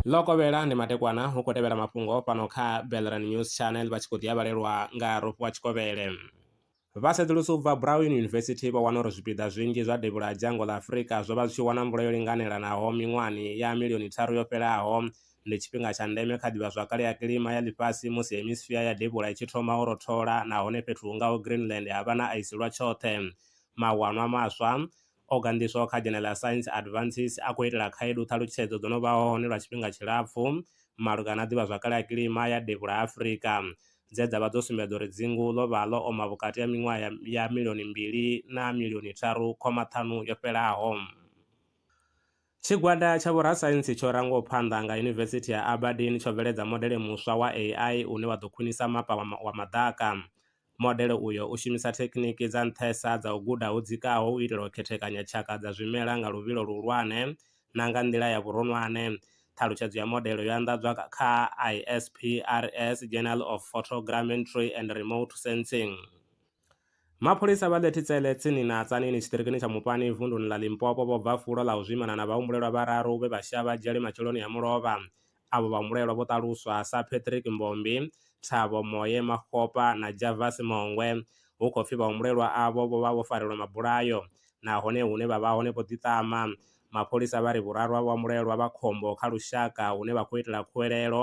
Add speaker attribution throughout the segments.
Speaker 1: ḽo kovhela ndi matekwana hu khou tevhela mafhungo fhano kha belran news channel vha tshi khou ḓi avhalelwa nga rofho wa tshikovhele vha sedzulusi u bva brown university vho wana uri zwipiḓa zwinzhi zwa devhula ha dzhango ḽa afurika zwo vha zwi tshi wana mvula yo linganelanaho miṅwahani ya milioni tharu yo fhelaho ndi tshifhinga tsha ndeme kha ḓivhazwakale ya kilima ya ḽifhasi musi hemisfia ya devhula i tshi thoma u rothola nahone fhethu hu ngaho greenland ha vha na aisi lwa tshoṱhe Mawanwa maswa o ganḓiswaho kha dzhene ḽa Science Advances a khou itela khaedu ṱhalutshedzo dzo no vha hone lwa tshifhinga tshilapfu malugana na ḓivhazwakale ya kilima ya Devhula ha Afrika dze dza vha dzo sumbedza uri dzingu ḽo vha ḽo oma vhukati ha miṅwaha ya ya milioni mbili na milioni tharu khoma ṱhanu yo fhelaho. Tshigwada tsha vhorasaintsi tsho rangwaho phanḓa nga Yunivesithi ya Aberdeen tsho bveledza modele muswa wa AI une wa ḓo khwinisa mapa wa maḓaka. Modele uyo u shumisa thekhiniki dza nṱhesa dza u guda ho dzikaho u itela u khethekanya tshaka dza zwimela nga luvhilo luhulwane na nga nḓila ya vhuronwane. Ṱhalutshedzo ya modele yo anḓadzwa kha ISPRS Journal of Photogrammetry and Remote Sensing. Mapholisa vha 30 tsele tsini na Tzaneen tshiṱirikini tsha Mupani vunduni ḽa Limpopo vho bva fulo ḽa u zwimana na vhahumbulelwa vhararu vhe vha shaya vhadzhele matsheloni a mulovha. Avho vhahumbulelwa vho ṱaluswa sa Patrick Mbombi, Thabo Moye Makgopa na Javas Mongwe. Hu khou pfi vhahumbulelwa avho vho vha vho farelwa mabulayo nahone hune vha vha hone vho ḓiṱama. Mapholisa vha ri vhuraru ha vhahumbulelwa vha khombo kha lushaka hune vha khou itela khuwelelo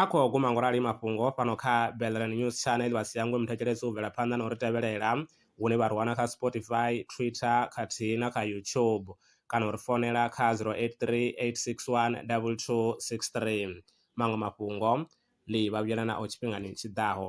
Speaker 1: A khou guma ngorali mafhungo fhano kha Belrand News Channel vha si hangwe muthetshelesi u bvela phanḓa na u ri tevhelela hune vha ri wana kha Spotify, Twitter khathihi na kha YouTube kana u ri founela kha 0838612263. Maṅwe mafhungo ndi vha vhuyela nao tshifhingani tshi ḓaho.